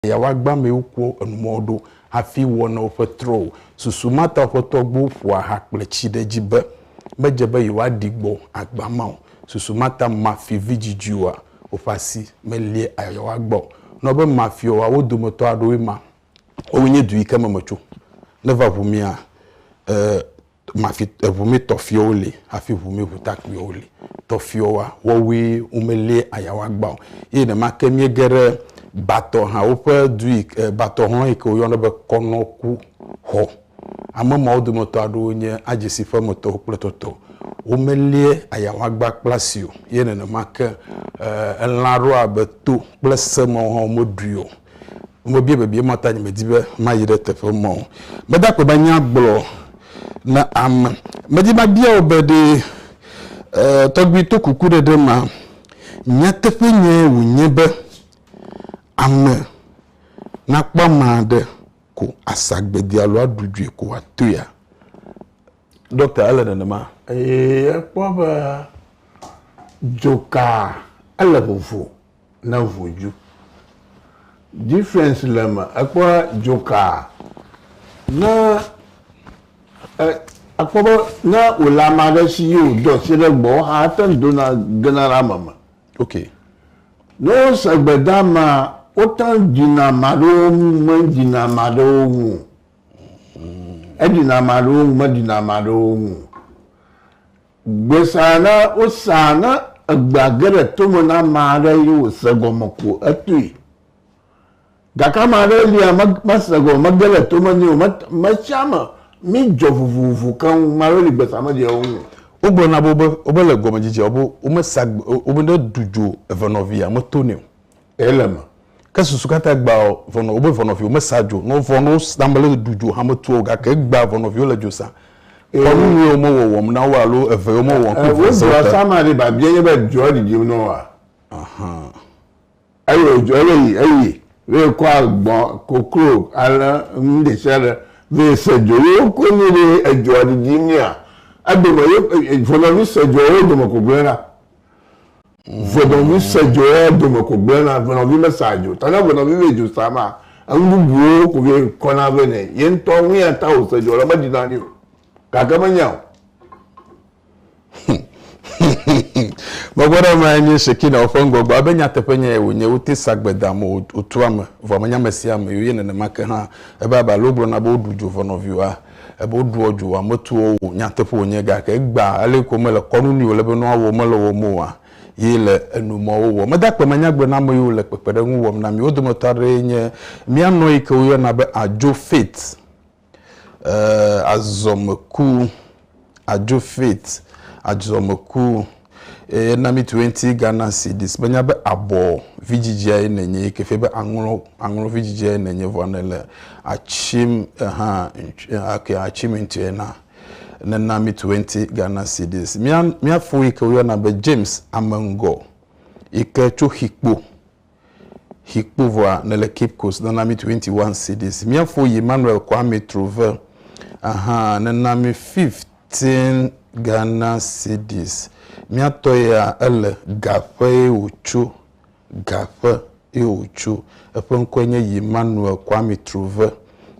Eya woagbã amewo kpɔ enumɔwo ɖo hafi wɔ na woƒe trɔ o. Susu ma ta woƒe tɔgbuiwo ƒoa ha kple tsi ɖe edzi be, Medze be yewoaɖi gbɔ agbã ma o. Susu ma ta mafi vidzidzuiwoa woƒe asi melia ayayawo agbã o. Nɔ be mafiɔ woawo dometɔ aɖewoe ma. Woawoe nye du yi ke me metso. Neva ʋu mia, ɛ̃. Mafi eŋu mi tɔfiɔwo li hafi ŋu mi ŋutakpuiwo li. Tɔfiɔwoa, woawoe womelie ayawoa gbã o. Eye nenemake míege ɖe Batɔ hã woƒe du yi ke Batɔ hlɔ̃ yi ke woyɔna be Kɔnɔku xɔ. Ame mawo dometɔ aɖewo nye Adzesi ƒe emetɔwo kple etɔtɔ. Womelie ayawoa gbã kple asi o. Eye nenema ke elã aɖewo abe to kple se mawo hã womeɖui o. Mebia bebie mɔ ta nye medi be mayi ɖe teƒe mɔ. Meda akpe be nya gblɔ na ame. Medi mabia wò be ɖe eh, tɔgbui to kuku ɖe ɖe ma, nyateƒe nye wònye be ame nakpɔ ame aɖe ko asa agbedi alo aɖu dzoe ko wòatoea? Ɖɔkta, ele nenema. Eye ekpɔ be dzokaa ele vovo. ne ʋu dju. Difference le me ekpɔ dzokaa ne e akpɔ be ne wòle ame aɖe si ye wòdo asi ɖe egbɔ wo hã ete ŋu dona gena ɖe ame me. Ok. Ne wose gbedeamea wote ŋu dzina ame aɖewo ŋu medzina ame aɖewo ŋu o. Edzina ame aɖewo ŋu medzina ame aɖewo ŋu o. Gbesea na wosaa ne egbea ge ɖe tome na ame aɖe eye wòse gɔme ko etoe. Gake ame aɖe lia mese gɔme, mege ɖe tome nɛ o. Metsea me midzɔ vovovo keŋ. Ame aɖewo li gbesea medzɔ wo ŋu o. Wogblɔ na wo be womele gɔmedzedzea me be womesa gbe o, womeɖe du dzo evenɔvia me to nɛ o. Ele me. Ke susu katã gbea vɔnɔ wobe vɔnɔviwo mesa dzo nɔ vɔ nɔ wosã mele ɖu dzo hame tuɔ gake egbea vɔnɔviwo le dzo sã kɔnu nyuie wo me wɔwɔm na wo alo eve yo me wɔwɔm ku vɔsɔ ta. Wodua ma ɖi babia nye be dzoa ɖiɖim nɔ woa? Ahan. Eyi odzo ele yi eyi ve kɔ agbɔn koklo ale nu ɖesiaɖe ve se dzo ye wokɔ nɛ be edzoa ɖiɖim nɛa edome ye vɔnɔvi se dzoa wo dome koklo ɖa. Ŋenɔvi se dzo ye dome ko gblẽna, ŋenɔvi mesea dzo o. Ta ne ŋenɔvi be dzo sa maa, enu bubuwo ko ye kɔna vɛ nɛ. Ye ŋutɔ nu ya ta wòse dzo le meɖi na ni o. Gake menya o. Megbe ɖe emae nye Shekinah ƒe ŋgɔgbe. Abe nyateƒe nyae wònye, wote sa gbedam, wotua ame, vɔ menya ame sia ame o. Ye nenema ke hã, ebe abe ale wogblɔna be woɖu dzo ŋenɔvi oa, Ebe woɖoa dzo ametuwo o. Nyateƒe wònye, gake egbea ale ko mele kɔnu nɛ wòle be woawɔ mele wɔm oa? Ye le enu ma wowɔ. Mede akpe me nyagblɔɖiame yiwo le kpekpeɖeŋu wɔm na mi. Wo dometɔ aɖee nye mía nɔ yi ke woyɔna be Adjo Faith, ee, azɔmeku. adzo faith adzɔ meku eye na mi tuenti Ghana cedis be nya be abɔ vidzidzia ye nenye yi ke fie be aŋlɔ aŋlɔ vidzidzia ye nenye vɔ ne le atsim ehã ake atsim ŋuti na nena mi tuenti Ghana cedis mia mia fo yi ke woyɔna be James Amengo yi ke tso Xikpo Hikpovwa ne le Cape Coast nana mi 21 cedis. Mia fo yi Manuel Kwame Trove aha ne na mi 15 Ghana cedis. Mia tɔ ya ele gaƒe ye o tso. Gaƒe ye o tso. Eƒe ŋkɔe nye yi Manuel Kwame Trove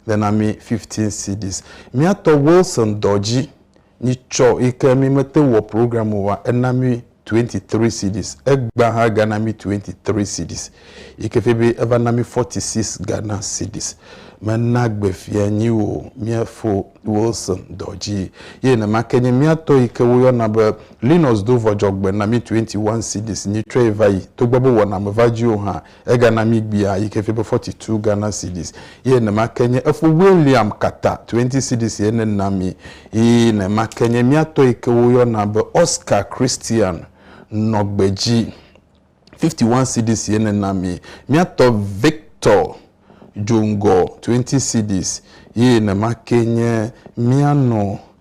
nana mi 15 cedis. Mia tɔ Wilson Dɔdzi Mi tsɔ yike mi me te wɔ program o wa ena mi 23 cedis egba ha ga na mi 23 cedis yike fe be eva na mi 46 Ghana cedis me na gbe fia nyi wo mia fo Wilson dɔdzi ye ne ma ke nyi mia tɔ yike wo yɔ na be Linus do vɔdzɔ gbe na mi 21 cedis nyi tsɔe va yi to gbɔ be wɔ na me va dzi o ha Egana míegbea yi ke fia be forty two Ghana cedis ye nema ke nye efo William Kata twenty cedis ye nena mi ye nema ke nye mía tɔ yi ke woyɔna be Oscar Christian nɔ gbedzi fifty one cedis ye nena mi. Mía tɔ Victor Djongor twenty cedis ye nema ke nye mía nɔ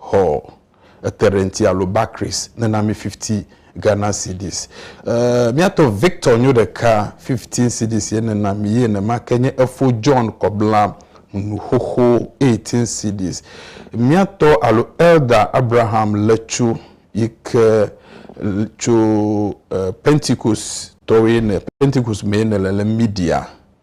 Xɔ ete ɖe ŋti alo Barclays nena mi fifty Ghana cedis. E, miatɔ Victor nyo ɖeka fifteen cedis ye nena mi ye nema ke nye efo John Kɔbla nu xoxo eighteen cedis. Miatɔ alo Elder Abraham Letsu yi ke tso e, Pentecost tɔwoe ne, Pentecost mee ne le le Media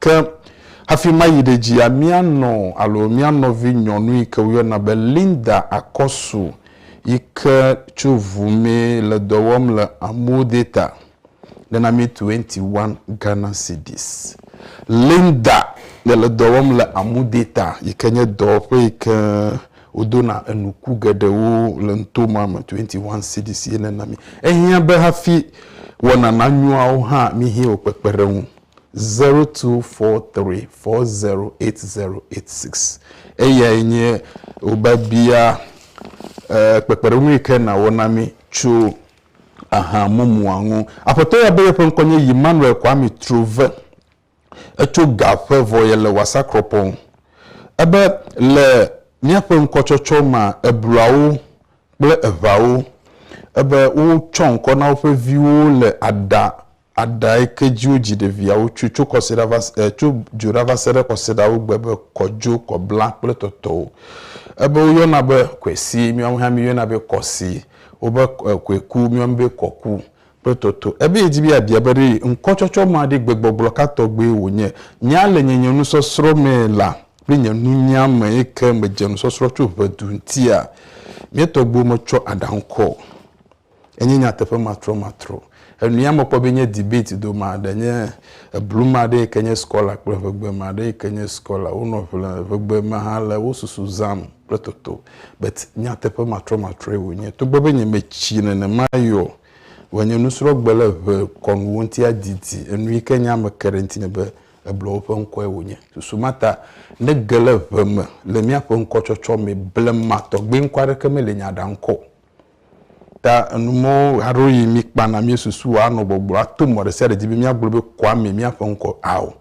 Ke hafi mayi ɖe dzia, mía nɔ alo mía nɔvi nyɔnu yi ke woyɔna be Linda Akɔsu yi ke tso ŋu mee le dɔ wɔm le Amuwo Deta nana mí 21 Ghana Cedis. Linda ye le dɔ wɔm le Amu Deta yi ke nye dɔwɔƒe yi ke wodona enuku geɖewo le nuto ma me 21 Cedis ye nana mí. Ehiã be hafi wɔna nanyoawo hã míhiã wò kpekpeɖeŋu. 0243408086. Eyae nye wobabia kpekpeɖeŋu yi ke nàwɔ na mí tso aha mumua ŋu. Aƒetɔ ya be yeƒe ŋkɔ nye Yimmanuel Kwame Trove. Etso ga ƒe vɔ ye le Wasakropong. Ebe le míaƒe ŋkɔtsɔtsɔ mea, ebluawo kple eʋawo. Ebe wotsɔ ŋkɔ na woƒe viwo le aɖa Aɖa yi ke dzi wodzi ɖeviawo tso tso kɔsiɖa va se e tso dzoɖa va se ɖe kɔsiɖawo gbe be kɔdzo, kɔbla kple tɔtɔwo. Ebe woyɔna be kwesi, míawo hã míeyɔna be kɔsi, wobe e kɔeku, míawo mi be kɔku kple tɔtɔ. Ebe yedi be yeabia be ɖe ŋkɔtsɔtsɔ ma ɖe gbegbɔgblɔ ka tɔgbe wònye. Nya le nye nye nusɔsrɔ̃ me la kple nye nunya me yi ke medze nusɔsrɔ̃ tso ʋedu ŋutia, mía tɔgbuiwo metsɔ aɖa ŋkɔ o. Enye nyateƒe matrɔmatrɔ. Enua mekpɔ be nye debate do ma ɖe nye eblu ma ɖe yike nye scholar kple ʋegbe ma ɖe yike nye scholar wo nɔ ʋle ʋegbe ma hã le wo susu zam kple toto but nyateƒe matrɔmatrɔe wo nye togbe be nye me tsi nenema yi ɔ vɔ nye nusrɔ gbe le ʋe kɔnu wo ŋuti adidi enu yike nye ame ke ɖe ŋuti me be ebluɔ woƒe ŋkɔe wo nye. Susu ma ta ne ge le ʋe me le mía ƒe ŋkɔ tsɔtsɔ me blema tɔgbe ŋkɔ aɖeke me le nye aɖa ŋkɔ o. Ta enumɔwo aɖewo yi mi kpana mi susu wa anɔ gbɔgblɔ ato mɔ ɖe sia ɖe dzi be mi agblɔ be kɔa mi mia ƒe ŋkɔ ao.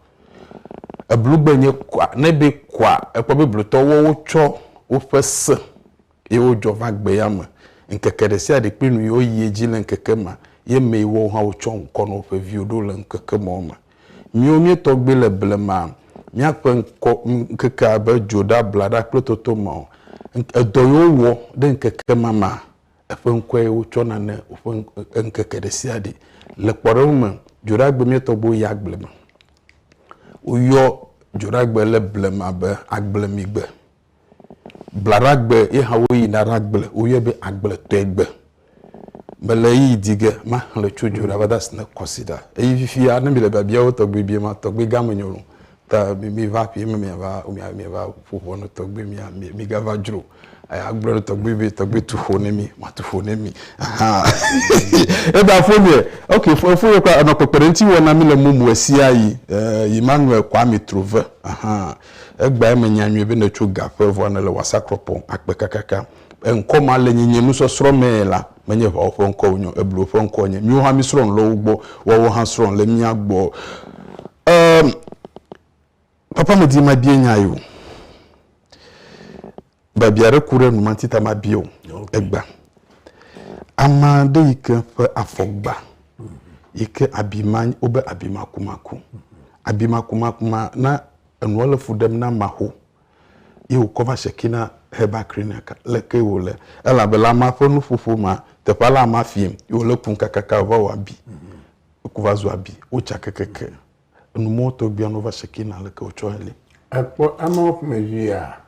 Eblu gbe nye kɔa ne be kɔa ekpɔ be blutɔ wɔ wo tsɔ woƒe se ye wo dzɔ va gbe ya me ŋkeke ɖe sia ɖe kple nu yi wo yi edzi le ŋkeke ma ye me yi wɔ wo hã wo tsɔ ŋkɔ nɔ woƒe viwo ɖo le ŋkeke mɔ me. Miwo míetɔ gbee le blema míaƒe ŋkɔ, ŋkeke abe dzo ɖe ablaɖa kple toto me o. Edɔ yi wowɔ ɖe ŋkeke ma me, eƒe ŋkɔe wotsɔna ne woƒe ŋkeke ɖe sia ɖe. Le kpɔɖeŋu me, Dzoɖagbe míetɔ gbee yi agble me. Woyɔ Dzoɖagbe le blema be Agblemigbe. Blaɖagbe ye hã woyina ɖagble, woyɔe be agbletɔegbe. Mele ɣeyiɣi di ge maxlẽ tso dzo ɖa va de asi ne kɔsiɖa. Eye fifia ne mile biabia wo tɔgbi bia ma, tɔgbi gã menye o. Ta miva aƒee me miava, miava ƒo ʋɔ ne tɔgbi mia, migava dzro o. Eya agblɔ ne tɔgbi be, tɔgbi tu ƒo ne mi, matu ƒo ne mi. Ahaa eda foniɛ. Ok fo foniɛ kura enɔ kpekpeɖeŋuti wɔm na mi le mɔme ɣesiaɣi. Yi ma ŋlɔe Kwame Trove. Ahaa Egbea menya nyuie be nètso ga ƒe vɔa nèle wɔasa krɔpɔ akpe kakaka. Eŋkɔ ma le nye nye nusɔsrɔ̃ mee la, menye ʋawo ƒe ŋkɔ wonyo, ebluwo ƒe ŋkɔ wonye. Míwo hã mísrɔ̃ nu le wo gbɔ, woawo hã srɔ̃ nu le mía gbɔ. Emm, Papa medi mabia nya ye o. Biabia ɖe ku ɖe nu manti ta mabia o. Egba. Ame aɖe yi ke ƒe afɔ gba yi ke abi ma wobe abi makumaku. Abi makumaku ma na enua le fu ɖem na maho ye wokɔ va Shekina Herbal Clinic leke wòle elabe le amea ƒe nuƒoƒo ma teƒea le amea fiam ye wòle kum kakaka wòva wɔ abi. Eku va zu abi wotsa kekeke. Enu mɔ tɔ bia nova sekina leke o tsɔ li. Ekpɔ eme wo ƒome via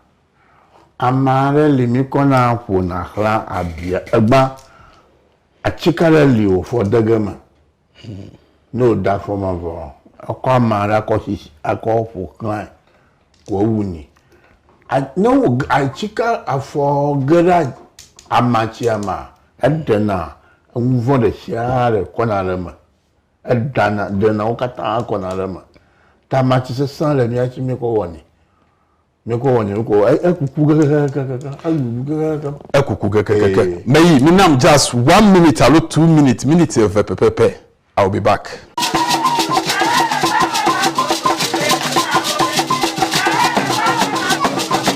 ama ɖe li mi kɔ na ƒo na xla abia egba atsika ɖe li wo fɔ dege me no o da fɔ ma vɔ ekɔ ama ɖe akɔ si akɔ ƒo xla ko ewu ni a no wo atsika afɔ ge ɖe ama tsia ma eɖe na enu vɔ ɖe sia ɖe kɔ na ɖe me. Eɖana, drena wo katã kɔna ɖe eme. Tamati sesẽ le mía si míekɔ wɔnɛ. Míekɔ wɔnɛ wokɔ e- ekuku kekekekekekekeŋ, eɖuɖu kekekekeŋ. Ekuku kekekekekeŋ. Ee. Meyi, mi nam just one minute alo two minutes, miniti eve pɛpɛpɛ. I will be back.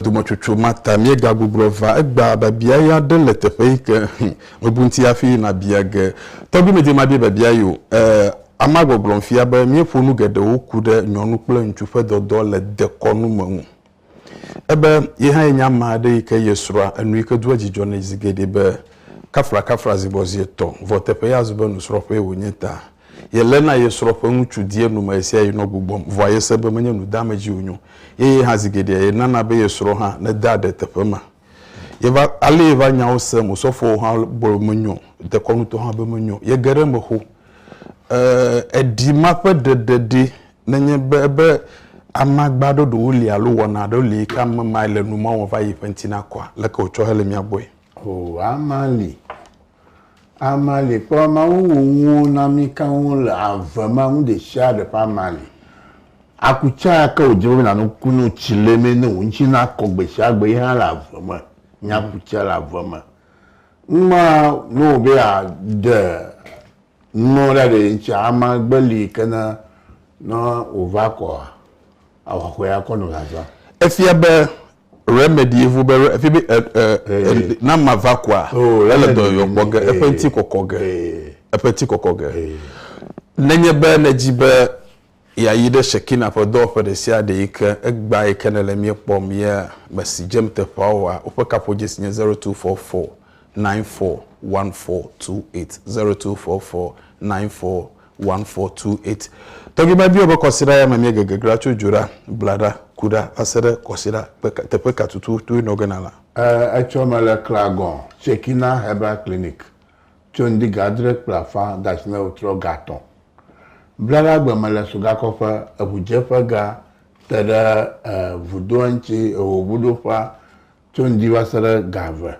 Dometsotso ma ta míegagbugrɔ va egbea biabia ɣi aɖe le teƒe yi ke hm, mebu ŋuti hafi nabia ge. Tɔgbi medze mabia biabia yi o. E, amea gbɔgblɔm fia be míeƒo nu geɖewo ku ɖe nyɔnu kple ŋutsu ƒe dɔdɔ le dekɔnu me ŋu. Ebe ye hã yenye ame aɖe yi ke ye srɔ̃a enu yi ke doa dzidzɔ nɛ zi geɖe be kaflakafla zi gbɔ zi etɔ̃, vɔ teƒe ya zu be nusrɔ̃ƒee wònye ta. Yeléna ye srɔ̃ ƒe ŋutsu di enumɛ ɣesiaɣi nɔ gbugbɔm, vɔa yese be menye nu deame dzi wònyo ye ye hã zi geɖea yenana be ye srɔ̃ hã nedea aɖe teƒe ma. Yeva, alee va nyawo sem, Osɔfoawo hã gblɔ be menyo o, dekɔnutɔwo hã be menyo o. Yege ɖe eme xoxo. E, eɖi ma ƒe ɖeɖe ɖi Nenye be ebe amagba ɖoɖowo li alo wɔna aɖewo li yi ke ame mae le nu mɔwɔm va yi ƒe ŋuti nakɔa, leke wòtsɔ hele mía gbɔe? O, ama li. Ama li. Kpɔ Mawu wò nuwo na mí keŋ le ave ma, nu ɖesiaɖe ƒe ama li. Aku tsã ya ke wòdze be nàno ku ne wòtsi le eme ne wò ŋuti nakɔ gbesiagbe yi hã le ave me. Nye aku tsɛ le ave me. Numa ne wò be yeaɖe. Nɔ ɖa ɖe ŋtsia ama gbe li kena nɔ wova kɔa awa xɔe akɔ nɔ zaza. Efia be remedy evo be re, efi be e, e, e, na ma va kɔa oh, ele dɔ yɔ kpɔ ge eƒe ŋti kɔkɔ ge eƒe ŋti kɔkɔ ge nenye be nedzi be Yɛayi ɖe Shekina ƒe dɔwɔƒe ɖesiaɖe yi ke egbea yi ke nèle mía kpɔm yea? Mèsi dzem teƒea oa? Woƒe kaƒodzesi nye zero two four four nine four one four two eight, zero two four four nine four one four two eight. Tɔgbi mabiɔ be kɔsiɖa ya me míege geglea tso dzo ɖa, bla ɖa, ku ɖa va se ɖe kɔsiɖa ƒe ka, teƒe ka tututu nɔ ge na la? Ẽ, etsɔ mele Clagon, Shekina Herbal Clinic Tso ŋdi ga adre kple afã gasime trɔ ga atɔ̃ bla la gbe mele sugakɔƒe, eŋudzeƒe ga te ɖe vudoa ŋti ehoŋuɖoƒea tso ŋdi va se ɖe ga eve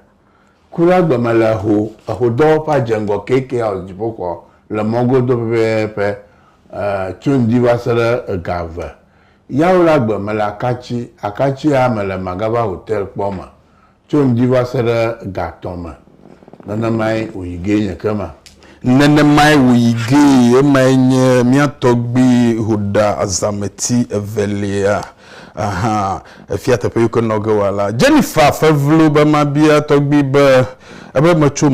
ku la gbe mele eho ehodɔwɔƒea dze ŋgɔ KK House dziƒoxɔ le mɔ godo pɛpɛpɛ tso ŋdi va se ɖe ga eve yawo la gbe mele akatsi akatsi ya mele Magava Hotel kpɔ me Tso ŋdi va se ɖe ga tɔ̃ me, nenemae wòyi gee nye ekema. Nenemae wòyi gee, emae nye mía tɔgbui Hoda azãmeti evelia hã. Efia teƒe yi ke nɔ ge wòala la. Jennifer fe vlo be mabia tɔgbui be, ebe metso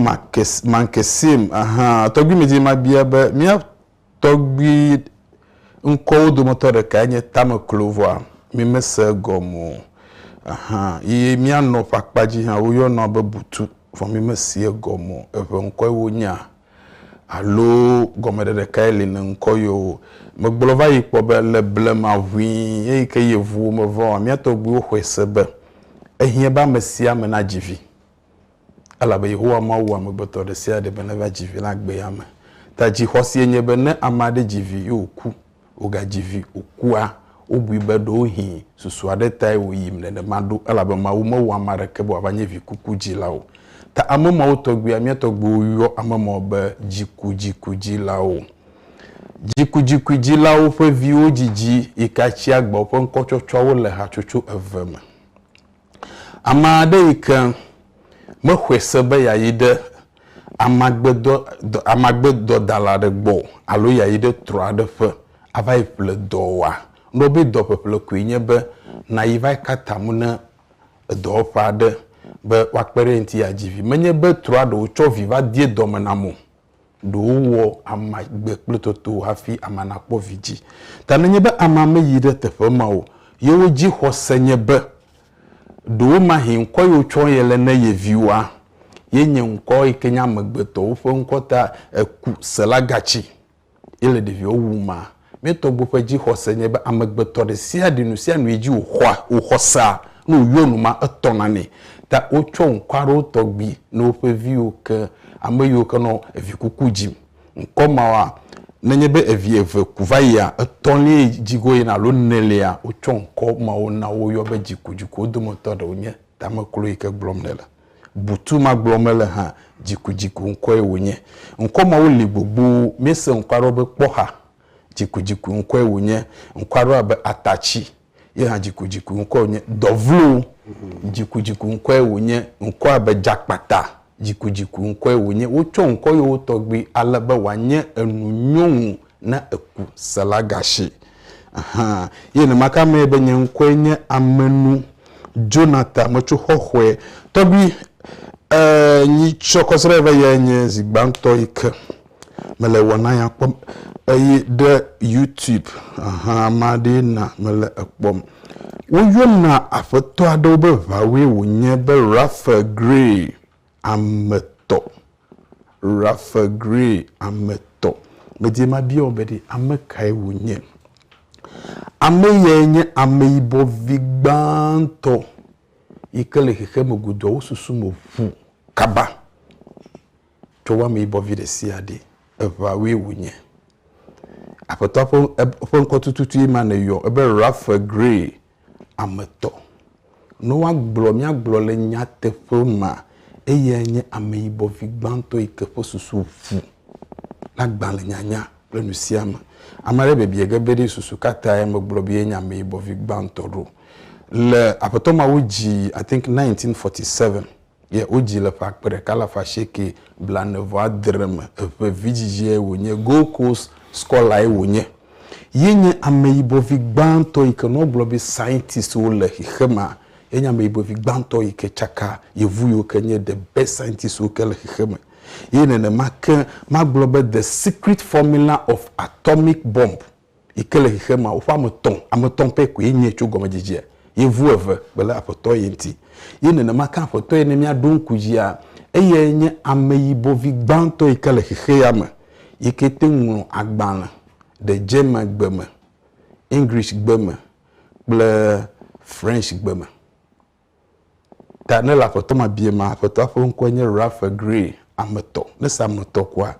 Mankesim hã, tɔgbuimedzi mabia be, mía tɔgbi ŋkɔwo dometɔ ɖekae nye tameklo vɔa mi me se egɔme o ahan yi mia nɔ ƒe akpa dzi hã wo yɔnɔ be butu vɔ mi me si egɔme o eʋe ŋkɔe wo nya alo gɔme ɖe ɖekae li ne ŋkɔ yɔ wo me gblɔ va yi kpɔ be le blema ʋui eyi ke yi evuwo me vɔa mia tɔgbiwo xɔe se be ehiã be ame sia ame na dzi vi. Elabe Yehowa Mawu wɔ amegbetɔ ɖe sia ɖe be neva dzi vi le agbea me. Ta dzixɔsie nye be ne ame aɖe dzi vi ye wòku, wògadzi vi wòkua, wobui be ɖewohĩ susu aɖe tae wòyim nenema ɖo, elabe Mawu mewɔ ame aɖeke be wòava nye vikukudzila o. Ta ame mawo tɔgbuia mía tɔgbuiwo yɔ ame mawo be dzikudzikudzilawo. Dzikudzikudzilawo ƒe viwo dzidzi yi ke atsi agba woƒe ŋkɔtsɔtsɔawo le hatsotso eve me. Ame aɖe yi ke mexɔe se be yeayi ɖe amagbedɔ, amagbedɔdala aɖe gbɔ o alo yeayi ɖe trɔ̃ aɖe ƒe ava yi ƒle dɔ oa, wogblɔ be dɔ ƒeƒle koe nye be nàyi va yi ka ta mu ne edɔwɔƒe aɖe be woakpe ɖe eŋuti yeadzi vi. Menye be trɔ̃a ɖe wotsɔ vi va dee dɔme nam o. Ɖe wowɔ amea gbe kple toto hafi amea nakpɔ vidzĩ. Ta nenye be amea meyi ɖe teƒe ma o, yewo dzixɔse nye be ɖewomahi ŋkɔ yi wotsɔ ye le ne ye viwoa, yenye ŋkɔ yi ke nye amegbetɔwo ƒe ŋkɔ ta eku selagatsi. ye le ɖeviwo wu ma. Mía tɔgbuiwo ƒe dzixɔse nye be amegbetɔ ɖe sia ɖe, nusianu yi dzi wòxɔa, wòxɔ sea, ne wòyɔ nu ma, etɔna nɛ. Ta wotsɔ ŋkɔ aɖewo tɔgbi na woƒe viwo ke ame yiwo ke nɔ evi kuku dzim. Ŋkɔ mawoa, nenye be evi eve ku va yia, etɔ̃liae dzi go yina alo enelia, wotsɔ ŋkɔ mawo na wo yɔ be dzikudzikuwo dometɔ ɖewo nye tameklo yi ke gblɔm nèle. Butu ma gblɔm mele hã, dzikudziku ŋkɔe wònye. Ŋkɔ mawo li gbogboo. Míese ŋkɔa ɖɔ be kpɔxa. Dzikudziku ŋkɔe wònye. Ŋkɔa ɖɔ abe atatsi. Ye hã dzikudziku ŋkɔe wònye. Dɔvlo. Dzikudziku ŋkɔe wònye. Ŋkɔ abe dzakpata. Dzikudziku ŋkɔe wònye. Wotsɔ ŋkɔ yewo tɔgbi ale be wòanye enunyɔnu. Ne èku Selagashi hã. Ye nenema ke amee be nye ŋkɔe nye Amenu Jonathan, metso Xɔxɔe. Tɔgbui, e, nyi tsɔ kɔsrɛ ve yɛ nye zi gbãtɔ yi ke mele wɔna ya kpɔm eye ɖe YouTube hã ma ɖee na mele ekpɔm. Woyɔna aƒetɔ aɖewo be ʋawoe wònye be Raphael Gray, ame tɔ. Rafe Gray, Ame tɔ. Medie mabia wò be ɖe ame kae wònye. Ame yae nye ameyibɔ vi gbãtɔ yi ke le xexeame goduawo susu me ŋu kaba. Tsɔ wò ameyibɔ vi ɖe sia ɖe. Eŋawoe wònye. Aƒetɔa ƒe ŋkɔ tututue ma nèyɔ. Ebe Rafe Gray Ame tɔ, ne woagblɔ míagblɔ le nyateƒe mea, eyae nye ameyibɔ vi gbãtɔ yi ke ƒe susu ʋu na agbalẽnyanya kple nusiame. Ame aɖe biabiae ge be, Ɖe susu ka tae megblɔ be ye nye ameyibɔ vi gbãtɔ ɖo? Le Aƒetɔ Mawu dzi, I think 1947, ye wodzi le ƒe akpe ɖeka alafa asieke blaene vɔ adre me, eƒe vidzidziae wònye, Gold Coast Scholar-e wònye. Ye nye ameyibɔ vi gbãtɔ yike ne wogblɔ be scientist wo le xexemea, ye nye ameyibɔ vi gbãtɔ yike tsaka yevu yiwo ke nye the best scientist wo ke le xexeme. Ye nenema ke magblɔ be the secret formula of atomic bomb. yi ke le xexemea, woƒe ame tɔ̃, ame tɔ̃ pɛ koe nye tso gɔmedzedzea, yevu eve kple aƒetɔ ye ŋuti. Ye nenema ke aƒetɔ ye ne míaɖo ŋku dzia, eyae nye ameyibɔvi gbãtɔ yi ke le xexea me yi ke te ŋu ŋlɔ agbalẽ ɖe Germangbe me, Englishgbe me kple Frenchgbe me. Ta ne le aƒetɔ ma bie ma, aƒetɔa ƒe ŋkɔe nye Ralph Gray, ame etɔ̃. Ne se ame etɔ̃ koa,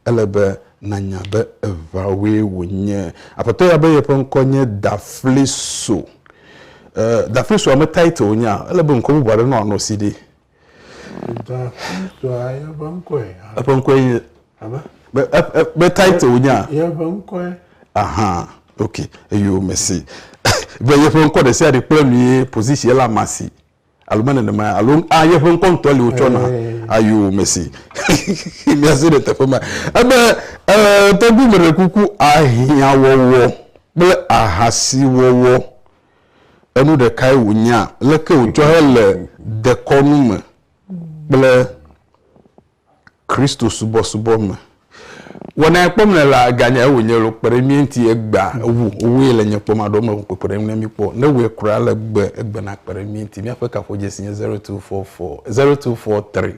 ele be nànya be eveawoe wònye. Aƒetɔ ya be yeƒe ŋkɔ nye Dafleso. E, Daflesoa me Tait wònyea? Ele be ŋkɔ bubu aɖe nɔ anɔ si ɖi. Daflesoa yeƒe ŋkɔe. Eƒe ŋkɔe nye Amen. Be, e, e, be title nya. Yeƒe ŋkɔe. Aha, ok, eyo mesi. be yeƒe ŋkɔ ɖe sia ɖe kple nu ye position la ma si. Alo me nenema ya. Alo a yeƒe ŋkɔ ŋutɔ li wotsɔ na. Ayo mesi. Miase ɖe teƒe ma. Ebe e, tɔgbu me ɖe kuku ahiã wɔwɔ kple ahasi wɔwɔ. Enu ɖekae wònya. Leke wòtsɔ hele dekɔnu me kple Kristo subɔsubɔ me. Wɔna yɛ kpɔm le la ganye ewo nye lo kpe ɖe mí ŋuti egbea ewu wowoe le nye kpɔm aɖo me kpekpe ɖe ŋu ne mí kpɔ ne wɔe kura le gbe egbe na kpe ɖe mí ŋuti míaƒe kaƒodzesi nye zero two four four zero two four three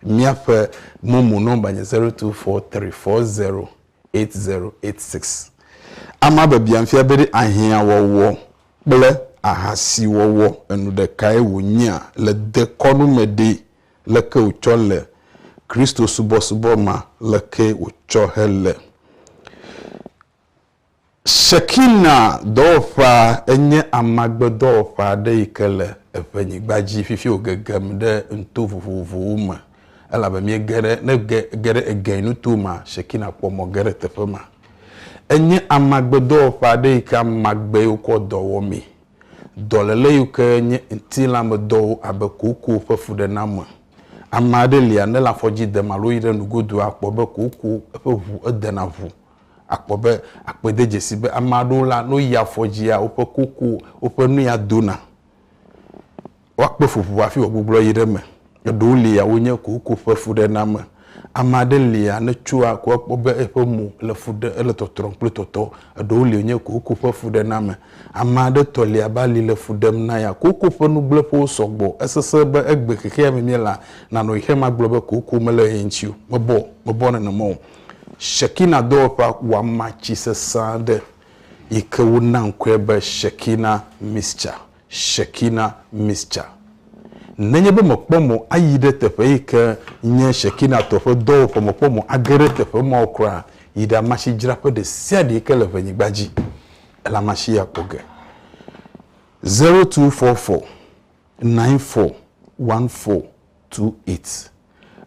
míaƒe momo nɔmba nye zero two four three four zero eight zero eight six ama be bia ŋfia be ɖe ahiã wɔwɔ kple ahasi wɔwɔ enu ɖekae wo nyea le dekɔnu me ɖe leke wòtsɔ le Kristo-subɔsubɔ ma leke wòtsɔ hele. Shekinah dɔwɔƒea enye amagbedɔwɔƒe aɖe yi ke le eŋɛnyigba dzi fifi wògegem ɖe nuto vovovowo me elabe míege ɖe, ne ge, ge ɖe egɛnyi nuto mea, Shekinah kpɔ mɔ ge ɖe teƒe ma. Enye amagbedɔwɔƒe aɖe yi ke amagbee wokɔ dɔ wɔ mee. Dɔléle yiwo ke nye ŋutilãmedɔwo abe kooko ƒe fuɖename. Ame aɖe lia, ne le afɔ dzi dem alo yi ɖe nugodua, akpɔ be kooko eƒe ŋu edena ŋu. Akpɔ be akpɔe de dzesi be ame aɖewo la, ne woyi afɔ dzia, woƒe kooko, woƒe nu ya dona. Woakpe ƒuƒu hafi wòagbugbɔ yi ɖe eme. Eɖewo lia wonye kooko ƒe fuɖename. Ame aɖe lia ne tsoa ko ekpɔ be eƒe mo le fu ɖem, ele tɔtrɔm kple tɔtɔ. Eɖewo li wonye kooko ƒe fuɖename. Ame aɖe tɔ li abe ali le fu ɖem na ya. Kooko ƒe nugblẽƒewo sɔ gbɔ. Esesẽ be egbe xexea me míelea, nanɔ xexeame agblɔ be kooko mele ɣe ŋuti o. Mebɔ, mebɔ nenema o. Shekinah dɔwɔƒea ku ama tsi sesẽ aɖe yi ke wona ŋkɔe be Shekinah Mixture. Shekinah Mixture. Nenye be mèkpɔ mo ayi ɖe teƒe yi ke nye Shekinah tɔ ƒe dɔwɔƒe, mèkpɔ mo age ɖe teƒe ma o kura, yi ɖe amasidzraƒe ɖe sia ɖe yi ke le ʋenyigba dzi, ele amasi ya kpɔ ge. Zero two four four nine four one four two eight.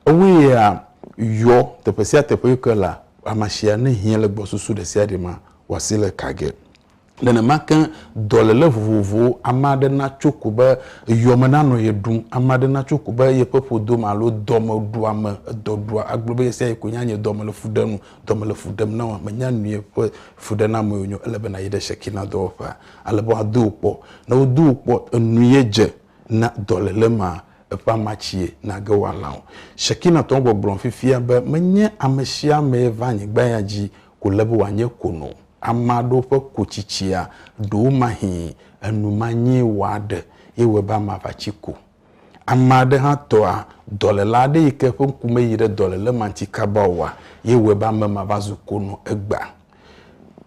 Ewoe ya yɔ teƒe sia teƒe yi ke le amasi ya ne hiã le gbɔsusu ɖe sia ɖe mea, wòasi le ka ge. Nenema ke dɔléle vovovowo, ame aɖe natso ko be yɔ me nanɔ ye ɖum, ame aɖe natso ko be yeƒe ƒodo me alo dɔ me ɖua me, edɔ ɖua, agblɔ be ye sia ye koe nye anye dɔ me le fu ɖem, dɔ me le fu ɖem na wòa, mènya nu ye ƒe fuɖenamewo nye o, ele be nàyi ɖe Shekina dɔwɔƒea ale be woado wò kpɔ. Ne wodo wò kpɔ enu ye dze na dɔléle ma eƒe amatsie nàge wòalã o. Shekina tɔ gbɔgblɔ fifia be menye amesiamee va anyigba ya dzi ko le be wòanye ko nɔ ame aɖewo ƒe kotsitsia, ɖewomahĩ enu ma nyee wòaɖe ye wɔe be amea va tsi ko. Ame aɖe hã tɔa, dɔléla aɖe yi ke ƒe ŋku meyi ɖe dɔléle ma ŋuti kaba oa, ye wɔe be ame ma va zu ko nɔ egbea.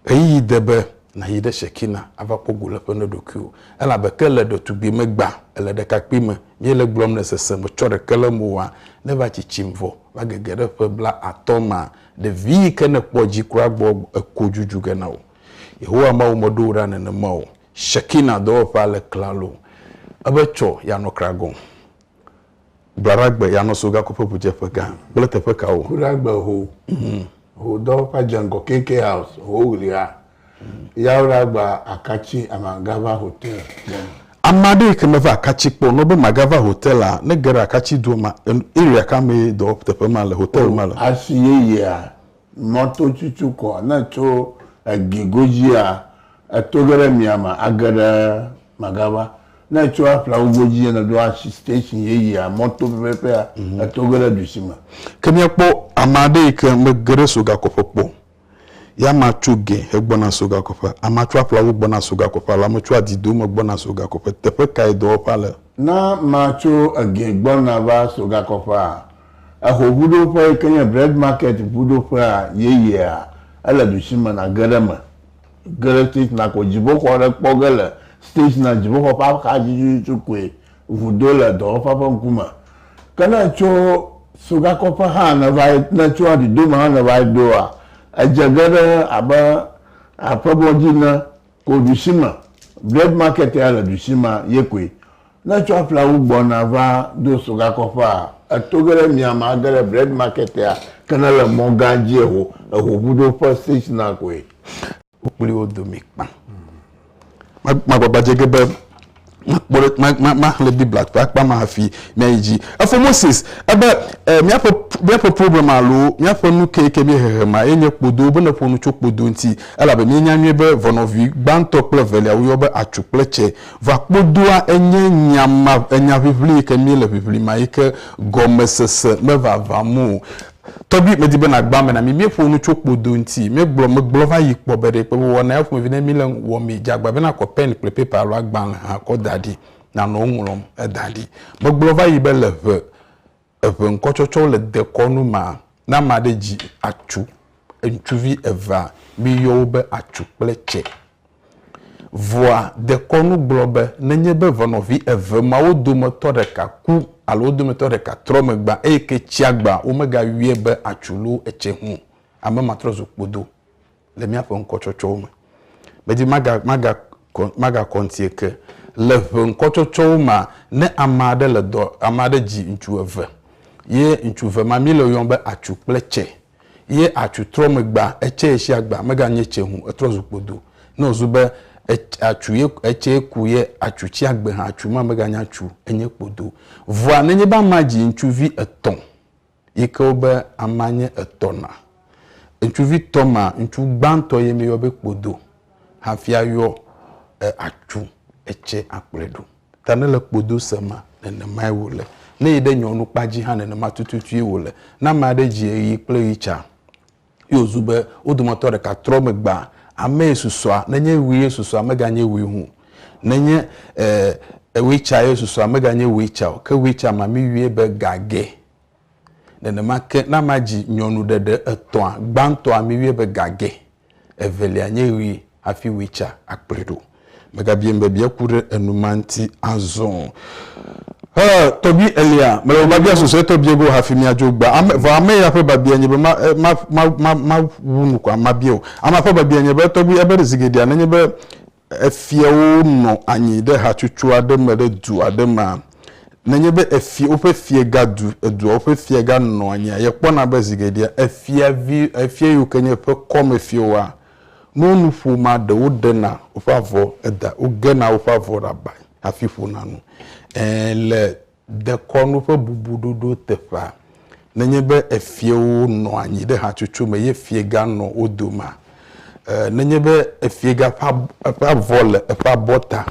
Ɣeyiɣi de be nàyi ɖe Shekina ava kpɔ go le eƒe ne ɖokuiwò, elabe ke le ɖetugbime gbã, ele ɖekakpuime, míele gblɔm le sese me tsɔ ɖeke le mo wɔa, ne eva tsitsim vɔ va gege ɖe ƒe bla atɔ̃ mea, Ɖevi yi ke nèkpɔ dzi kura gbɔ eko dzudzu ge na wò. Yehowa Mawu meɖo wò ɖa nenema o. Shekinah dɔwɔƒea le klalo. Ebe Tsɔ, yeanɔ Kragõ. Gblɔ ɖa gbe yeanɔ Sogaku ƒe ʋudzeƒegã kple teƒe kawo? Ku ɖa gbe ho, ho dɔwɔƒea dze ŋgɔ KK House, ho ɣlia Yaola gba akatsi a ma ga va hotel kpɔ. Ame aɖe yi ke me va akatsi kpɔ nɔ be ma ga va hotel la ne ge ɖe akatsi doa ma area ka me ye dɔ teƒe ma le hotel ma le. Asi yeyea mɔto tsutsu kɔ ne tso egi godzi a eto ge ɖe mia ma age ɖe ma ga va ne tso aƒlawu godzi ye ne ɖo asi station yeyea mɔto pɛpɛpɛ a eto ge ɖe ɖusi me. Ke mia kpɔ ame aɖe yi ke me ge ɖe so gakɔƒe kpɔ Ya ma tso gɛ hegbɔna so gakoƒe, ama tso aƒla wu gbɔna so gakoƒe alo ame tso adi dome gbɔna so gakoƒe. Teƒe kae dɔwɔƒea le? Na ma tso egɛ gbɔna va so gakoƒea, eho ŋuɖoƒe yi ke nye Bread Market ŋuɖoƒea yeyea, ele ɖusi me nage ɖe eme. Ge ɖe Steichner ko dziƒoxɔ aɖe kpɔ ge le Steichner dziƒoxɔ ƒe axadzi tututu koe Vudo le dɔwɔƒea ƒe ŋkume. Ke ne ètso sogakɔƒe hã nèva yi, ne ètso aɖidome hã nèva yi doa, edze ge ɖe abe aƒemɔdzi ene ko ɖusi me. Bread Market ya le ɖusi ma ye koe. Ne ètso aƒleawu gbɔna va do sogakɔƒea, èto ge ɖe mia me age ɖe Bread Market ya, ke ne èle mɔgã dzi eho, ehoŋuɖoƒe, station'a, koe. kpli wo dome kpã. Magbagba dze ge be makpɔ ɖe ma maxlẽ Biblia ƒe akpa ma hafi miayi dzi. Efo Moses ebe e, míaƒe míaƒe problem alo míaƒe nu ke ke míehehe ma ye nye kpodo be neƒo nu tso kpodo ŋuti elabe míenya nyuie be vɔnɔvi gbãtɔ kple evelia woyɔ be atsu kple tse. Vɔa kpodoa enye nya ma enya ʋiʋli yi ke míele ʋiʋli ma yi ke gɔmesese mevavã mo. Tɔgbi, medi be nàgba ame na mí. Míeƒo nu tso kpodo ŋuti. Míegblɔ, megblɔ va yi kpɔ be ɖe kpe wòwɔ na eya ƒomevi ne míle nu wɔmee. Dze agbagba be nàkɔ pɛn kple pepa alo agbalẽ hã kɔ da ɖi, nànɔ wo ŋlɔm da ɖi. Megblɔ va yi be le ʋe eve ŋkɔtsɔtsɔwo le dekɔnu ma, ne ame aɖe dzi atsu, ŋutsuvi evea, míyɔ wo be atsu kple tse. Vɔa, dekɔnu gblɔ be nenye be ʋɔnɔvi eve mawo dometɔ ɖeka ku alo wo dometɔ ɖeka trɔ megbea, eye ke tsia gbea, womegayɔe be atsu loo etse ŋu o. Ame ma trɔ zu kpodo le míaƒe ŋkɔtsɔtsɔwo me. Medi maga, maga, magakɔ ŋuti eke. Le ŋe ŋkɔtsɔtsɔwo mea, ne ame aɖe le dɔ, ame aɖe dzi ŋutsu eve. Ye ŋutsu eve ma, míle wo yɔm be atsu kple tse. Ye atsu trɔ megbea, etsɛ ye shi agba mega nye tsɛ hũ, etrɔ zu kpodo. Ne o zu be ets atsu ye etsɛ ye ku ye atsu tsi agbe hã atsu ma mega nya tsu enye kpodo. Vɔa nenye be ama dzi ŋtsuvi etɔ yi ke wo be ama nye etɔ na ŋtsuvi tɔ ma ŋtsu gbãtɔ ye mi yɔ be kpodo hafi ayɔ e atsu etsɛ akplɔe ɖo. Ta nele kpodo se ma, nenemae wòle. Ne yi ɖe nyɔnu kpa dzi hã, nenema tututue wòle. Ne ame aɖe dzi ɣeyiɣi kple ɣi tsa, ye wòzu be wo dometɔ ɖeka trɔ megbe, amee susɔa, nenye ɣie susɔa, meganye ɣi hũ o. Nenye, e, ɣi tsa ye susɔa, meganye ɣi tsa o, ke ɣi tsa mamɛ̃ yue be gage. Nenema ke, ne amea dzi nyɔnuɖeɖe etɔ̃a, gbãtɔa miwuie be gage, evelia nye ɣi hafi wui tsa akplɔe ɖo. Megabiaim be bia ku ɖe enu ma ŋuti azɔ o. Ɔ, tɔgbui Elia, mele be mabia susuetɔ bia go hafi miadzo egbea. Ame, vɔ ame ya ƒe babia nye be ma, ma, ma, ma, mawu nu ko, mabia o. Amea ƒe babia nye be, tɔgbui Eber, zi geɖea, nenye be Efiawo nɔ anyi ɖe hatsotso aɖe me ɖe du aɖe mea? Nenye be efia, woƒe fiega du, edua woƒe fiega nɔa anyia, yekpɔna be zi geɖea efiavi, efia yiwo ke nye eƒe kɔme fiawoa, ne wonu ƒomea, ɖe woɖena woƒe avɔ da, wogena woƒe avɔ ɖe aba hafi ƒona nu. Ẽ, le Dekɔnu ƒe bubu ɖoɖo teƒea. Nenye be efiewo nɔ anyi ɖe hatsotso me ye fiega nɔ wo domea, nenye be efiega ƒe eƒe avɔ le eƒe abɔta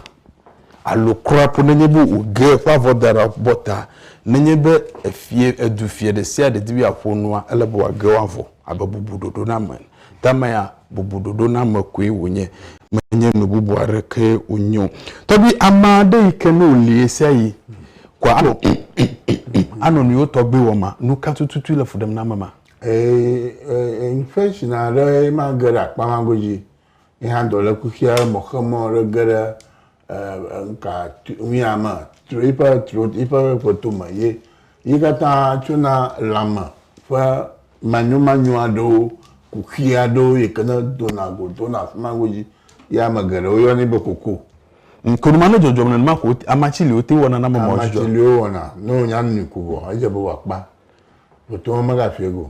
alo kura ƒu nenye be wòge eƒe avɔ da ɖe abɔta, nenye be efie, edufia ɖe sia ɖe di be yeaƒo nua, ele be wòage wo avɔ abe bubu ɖoɖo na me ene. Tamea, bubuɖoɖoname koe wònye, menye nu bubu aɖeke wònye o. Tɔgbi ame aɖe yi ke ne wòli ɣesiaɣi koa anɔ anɔ nu yewo tɔgbi wɔm ma, nu ka tututu le fu ɖem na ame ma? Ee, infection aɖe ye ma ge ɖe akpa ma godzi. Ye hã dɔlékuxia mɔxemɔ ɖe ge ɖe eh, nuka nuya me tso yiƒe tso yiƒe kpɔto me ye yi katã tsona lãme ƒe manyomanyo aɖewo kuxi aɖewo yi ke ne dona go dona afi ma godzi ye ame geɖewo yɔnɛ be koko. Nkonuma ne dzɔdzɔm nenema ko amatsi li wote wɔna na mɔmɔ amatsi li wowɔna ne wonya nui ko vɔ edze be wòakpa voto me megafie go.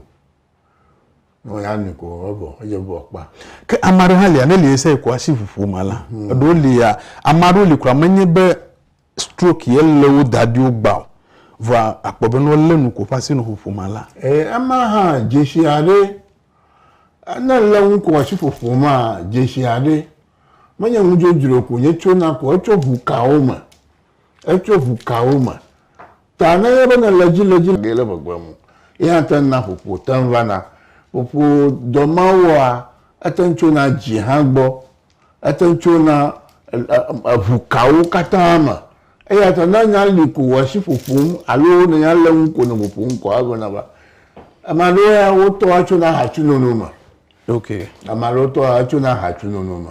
Ne wònya mi ko evɔ, edze vɔ kpa. Ke ame aɖe hã lia, ne li ese ko asi ƒoƒo ma la, mhm. eɖewo lia, ame aɖewo li kura menye be stroke ye lé wo da ɖi wogba o, vɔa akpɔ be ne wolé nu ko ƒe asi nɔ ƒoƒo ma la. Ee, ema hã dzesi aɖe, ne lé nu ko asi ƒoƒo ma dzesi aɖe, menye nu dzodzro ko nye tsona ko, etso ʋu kawo me, etso ʋu kawo me. Ta ne enye be nèle edzi le edzi ge le gbegbe mu ye hã te ŋuna ƒoƒo te ŋu vana. Ƒoƒo dɔ ma wɔa ete ŋu tsona dzi hã gbɔ. Ete ŋu tsona eŋu kawo katã me. Eya ta ne nya li ko wò asi ƒoƒom alo ne nya le eŋu ko nɔ ƒoƒom kɔa egblɔna be, ame aɖewo ya wotɔa tsona hã tsi nono me. Ok. Ame aɖewo tɔa tsona hã tsi nono me.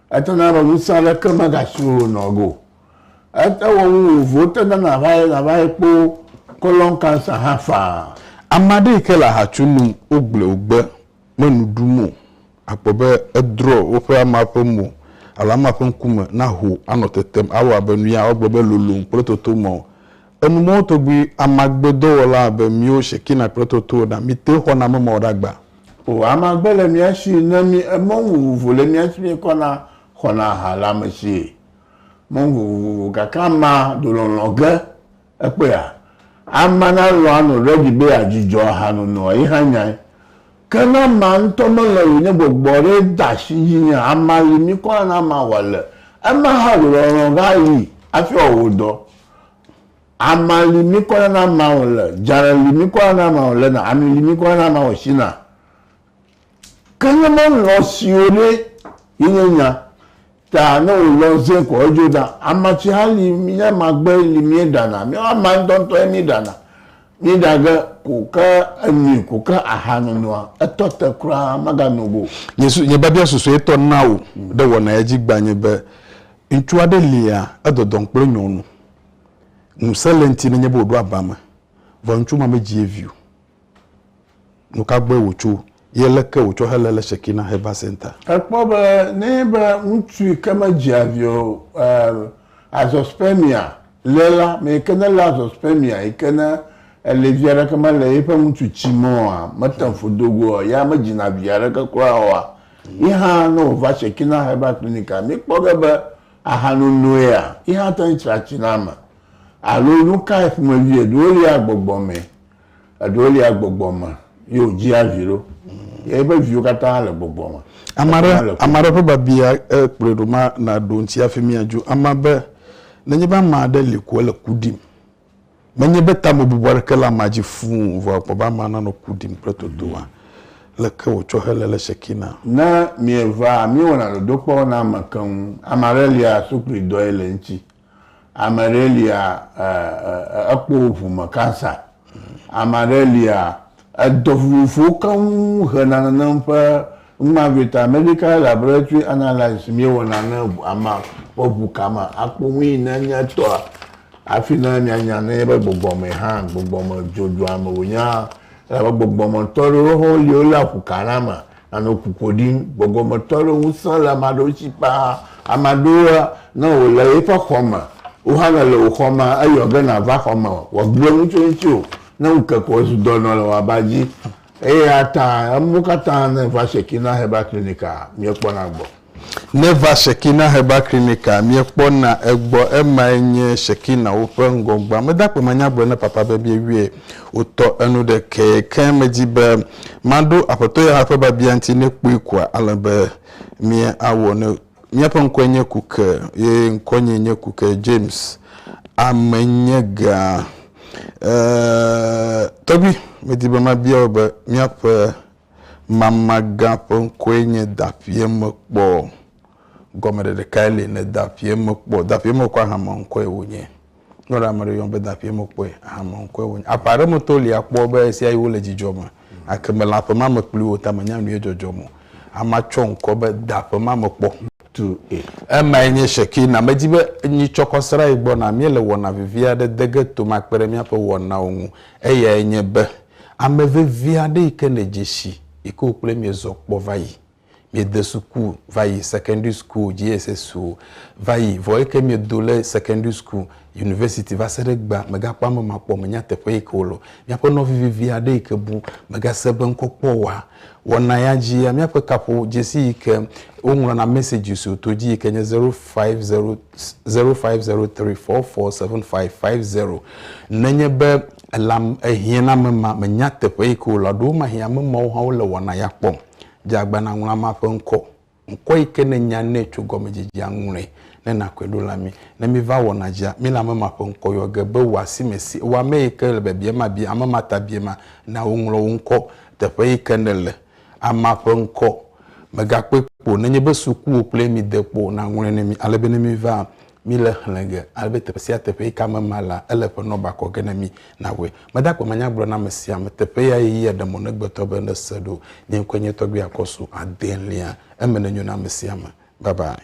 Ete na be ŋusẽ aɖeke megasu wò nɔ go. Ete wɔ nu vovovowo te na nàva yi nàva yi kpo colon cancer hã faa. Ame aɖe yi ke le aha tsom nu wogblɔe wògbe me nu ɖum o, akpɔ be edrɔ woƒe ama ƒe mo alo ama ƒe ŋkume naho anɔ tetem awɔ abe nu ya wogblɔ be lolom kple totomɔ Enu mɔwo togbui amagbe dɔwɔla abe miwo Shekina kple Totowo ɖa, mite xɔna ame mɔwo ɖa gbã. O amagbe le mia shi ne mi emɔnu vovovo le mia shi mi kɔ na xɔna ha le ame shi mɔnu vovovo gake ama do lɔlɔ ge ekpɔe a? Ama na lɔ ano ɖe ɖi be ya dzudzɔ aha nonoa yi hã nyae Ke Naama ŋutɔ melɔ̃ yi ne gbɔgbɔ aɖe de asi dzinye ama yi mi kɔ ana mawɔ le ema hã ɖo lɔlɔ̃ va yi afi wɔ wo dɔ. Ama li mi kɔ ana mawɔ le dzalẽ li mi kɔ ana mawɔ le na ami li mi kɔ ana mawɔ si na. Ke ne melɔ̃ siwo ɖe yi nye nya Ta ne wò lɔ zẽ kɔ edzo ɖa. Ama tsi hã li mi ne ama gbe li mie ɖana. Miawo ama ŋtɔ ŋtɔ ye mi ɖana. Mi ɖa ge ko ke enui ko ke aha nonoa etɔ te kura maga no go. Nye su, nye biabia susue tɔ na wò ɖe wɔ na edzi gba nye be ŋtsua ɖe lia edɔdɔm kple nyɔnu. Ŋuse le ŋti ne nye be wò ɖo aba me. Vɔ ŋtsu ma me dzi ye vi o. Nu ka gbɔe wòtso, ye leke wòtsɔ helé le Shekinah Heber Center? Èkpɔ be nenye be ŋutsu yi ke medzea vi o, azoospermia, le la, ame yi ke nelé azoospermia yi ke ne eli vi aɖeke mele yiƒe ŋutsu tsi me oa, mete ŋu ƒu do goe o, ya medzina vi aɖeke kura oa, yi hã ne wòva Shekinah Herbal Clinic-a, míkpɔ ge be ahanonoea, yi hã te ŋu tsra tsi na ame. Alo nu kae ƒomevie ɖo lia gbɔgbɔ mee? Eɖewo lia gbɔgbɔ me ye wodzia vi ɖo. Ye eƒe viwo katã le gbɔgbɔ me. Ame aɖe Katã le ku. ame aɖe ƒe babia e, kplɔe ɖo ma naɖo ŋuti hafi míadzo. Ame be, Nenye be ame aɖe li ko ele ku ɖim, menye be tamebubu aɖeke le amea dzi fũu o, vɔ èkpɔ be amea nanɔ ku ɖim kple totoa. Leke wòtsɔ helé le Shekina? Ne mievaa, miewɔna dodokpɔ na ame keŋ. Ame aɖe lia sukluidɔe le eŋuti. Ame ɖe lia ekpɔ ʋu me cancer. Ame ɖe lia edɔ vovovowo keŋ hena nane ƒe numa vɛ ta medical laboratory analysis mi wɔna ne ama ƒe ʋu kama akpɔ nu yi ne nye tɔa afi ne mia nya ne ye be gbɔgbɔ me hã gbɔgbɔ me dzodzoa me wo nya. Elabe gbɔgbɔ me tɔ ɖewo hã wo li wo le aƒu ka na me Anɔ ƒuƒo ɖim. Gbɔgbɔmetɔ aɖewo ŋusẽ le ame aɖewo si ƒaa. Ame aɖewoa, ne wòle yeƒe xɔ me, wò hã nèle wò xɔ me eyɔ ge nàva xɔ me wòagblɔ nu tso ŋutiwò. Ne ŋu ke ko zu dɔ nɔ le wò aba dzi. Eyata emɔ katã ne va Shekinah Herbal Clinic-a, míekpɔna gbɔ. Neva Shekina Herbal Clinic a miekpɔna egbɔ emae nye Shekina wo ƒe ŋgɔgbea. Mede akpe manya gblɔ ne papa be miewie wotɔ enu ɖe ke ke medi be maɖo Aƒetɔ Yehowa ƒe biabia ŋuti ne kpui koa ale be miawɔ ne Miaƒe ŋkɔe nye Kuke ye ŋkɔnyee nye Kuke James Amenyegãa. Ee, tɔgbui, medi be mabia wò be míaƒe Mamagã ƒe ŋkɔe nye Daƒiemekpɔ. Gɔmeɖeɖe kae li ne Daƒiemekpɔ? Daƒiemekpɔ ahameŋkɔe wònye. Ne wòle ame ɖe yɔm be Daƒiemekpɔe, ahameŋkɔe wònye. Aƒe aɖe metɔwo li akpɔ be ɣesiaɣi wole dzidzɔ me, gake mele aƒe ma me kpli wo o, ta menya nu ye dzɔdzɔm o. Amea tsɔ ŋkɔ be Daƒemamekpɔ. Tu e. Emae nye Shekina. Medi be nyi tsɔ kɔ srã yi gbɔ na. Míele wɔna vevi aɖe de ge tome akpe ɖe míaƒe wɔnawo ŋu. Eyae nye be Ame vevi aɖe yi ke le dzesi yi ke wokple miezɔ kpɔ va yi, miede suku va yi, secondary school, JSS o, va yi, vɔ eke miedo le secondary school, university va se ɖe egbea, megakpɔ ame ma kpɔ o, menya teƒe yi ke wole o. Míaƒe nɔvi vevi aɖe yi ke bu megase be ŋkɔ kpɔ oa, wɔna ya dzia, míaƒe kaƒo dzesi yi ke woŋlɔna messages o to dzi yi ke nye zero five zero 0503447550. Nenye be elam ehiã na ame ma menya teƒe yi ke wòle o, ɖewo mahi ame mawo hã wole wɔna ya kpɔm. Dze agba nàŋlɔ amea ƒe ŋkɔ. Ŋkɔ yi ke nènya nɛ tso gɔmedzedzea ŋlɔe ne nàkɔe ɖo le amee. Ne míva wɔna dzia, míle ame ma ƒe ŋkɔ yɔ ge be wò asi me si. Wò ame yi ke le biabiam abia ame ma ta biema na wòŋlɔ wò ŋkɔ, teƒe yi ke nèle, Amea ƒe ŋkɔ, megakpɔe kpɔ nenye be sukuwo kple mi de kpɔ o, naŋlɔe ne mi ale be ne miva mi le xlẽ ge ale be teƒe sia teƒe yi ka me ma la, ele ƒe nɔba kɔ ge ne mi, nawɔe. Meda akpe manya gblɔ na ame sia ame. Teƒe ya ye yia ɖe mɔ ne gbetɔ be ne se ɖo. Nye ŋkɔe nye Tɔgbui Akɔsu, adelia. Eme nenyo na ame sia ame. Bye bye.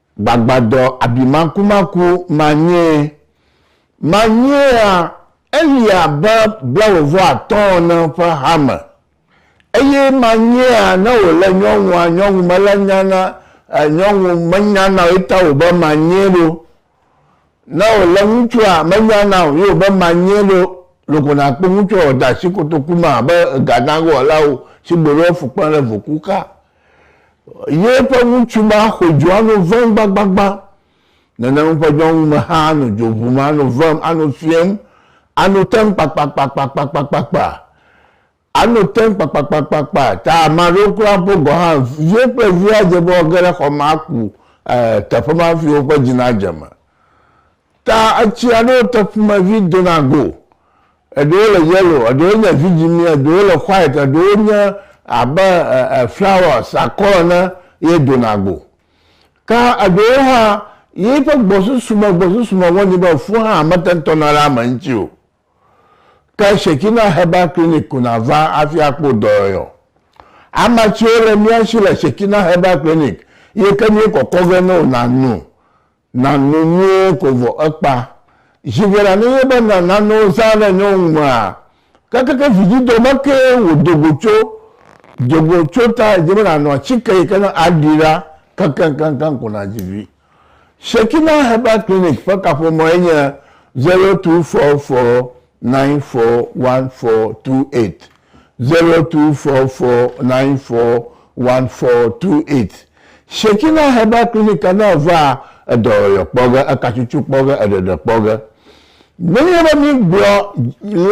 Gbagbadɔ abimakumaku manyee! Manyeea Eli abe blawòvɔatɔ̃ ene ƒe hame, eye manyeea ne wòlé nyɔnua nyɔnu mele nya na nyɔnu menya na o ye ta wòbe manyee ɖo, ne wòlé ŋutsua menya na o ye wòbe manyee ɖo. Loko nàkpɔ ŋutsua wòda asi kotoku me abe egadãgowɔlawo si gbe ɖo efukpena ɖe voku xa Ye ƒe ŋutsu ma xo dzo ano vem gbagbagba. Nenem eƒe nyɔnu me hã ano dzo ʋum, ano vem, ano fiem, ano tem kpakpakpakpakpakpakpa. Ano tem kpakpakpakpakpa. Ta ame aɖewo kura ƒe gɔ̃ hã, ye ƒe via dze be woage ɖe xɔ ma aku, ɛɛ, teƒe ma hafi woƒe dzi nadze eme. Ta etsi aɖewo te ƒomevi dona go. Eɖewo le yellow, eɖewo nye vidzĩmi, eɖewo le white, eɖewo nye abe flowers, akɔ ene ye dona go. Ta eɖewo hã, yeƒe gbɔsusume gbɔsusume wɔ nɛ be fu hã mete ŋu tɔna ɖe ame ŋuti o. Ke Shekina Herbal Clinic ko nàva hafi akpɔ wò dɔyɔyɔ. Amatsiwo le mía si le Shekina Herbal Clinic, ye ke míekɔkɔ ge ne wò nàno Na nu nyuie ko vɔ ekpa. Ʒinkui la nenye be na nanewo zã ɖe nyɔnu mea, kekeke vidzidɔ me kee wòdo go tso. Do go tso ta edze be nàno atike yi ke ne aɖi ɖa kekeŋkeŋkeŋ ko nàdzi vi. Shekinah Herbal Clinic ƒe kaƒomɔe nye zero two four four nine four one four two eight zero two four four nine four one four two eight. Shekina Herbal Clinic a ne èva edɔyɔyɔ kpɔ ge, ekatsutsu kpɔ ge, eɖeɖe kpɔ ge. Nenye be mígblɔ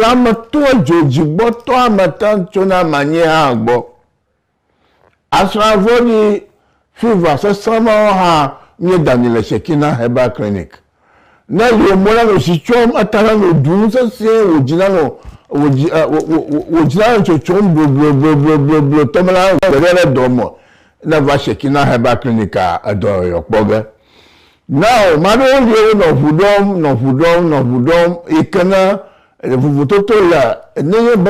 lãmetɔe dzodzigbɔtɔa me keŋ tsona ame anyi hã gbɔ. Asrã vɔ̃ɖi fiva sesẽ mawo hã nye dani le Shekinah Herbal Clinic. Ne wò mo nanɔ tsi tsom, eta nanɔ ɖum sesĩe, wò dzi nanɔ wò dzi e wò wò wò wò dzi nanɔ tsotsom bloblobloblobloblotɔ be na gbe ɖe ɖe dɔ me ne va Shekinah Herbal Clinic-a, edɔ yɔyɔ kpɔ ge. Nao mea ɖewo lie wonɔ ŋu ɖɔm, nɔ ŋu ɖɔm, nɔ ŋu ɖɔm yi ke ne vovototo le ne nye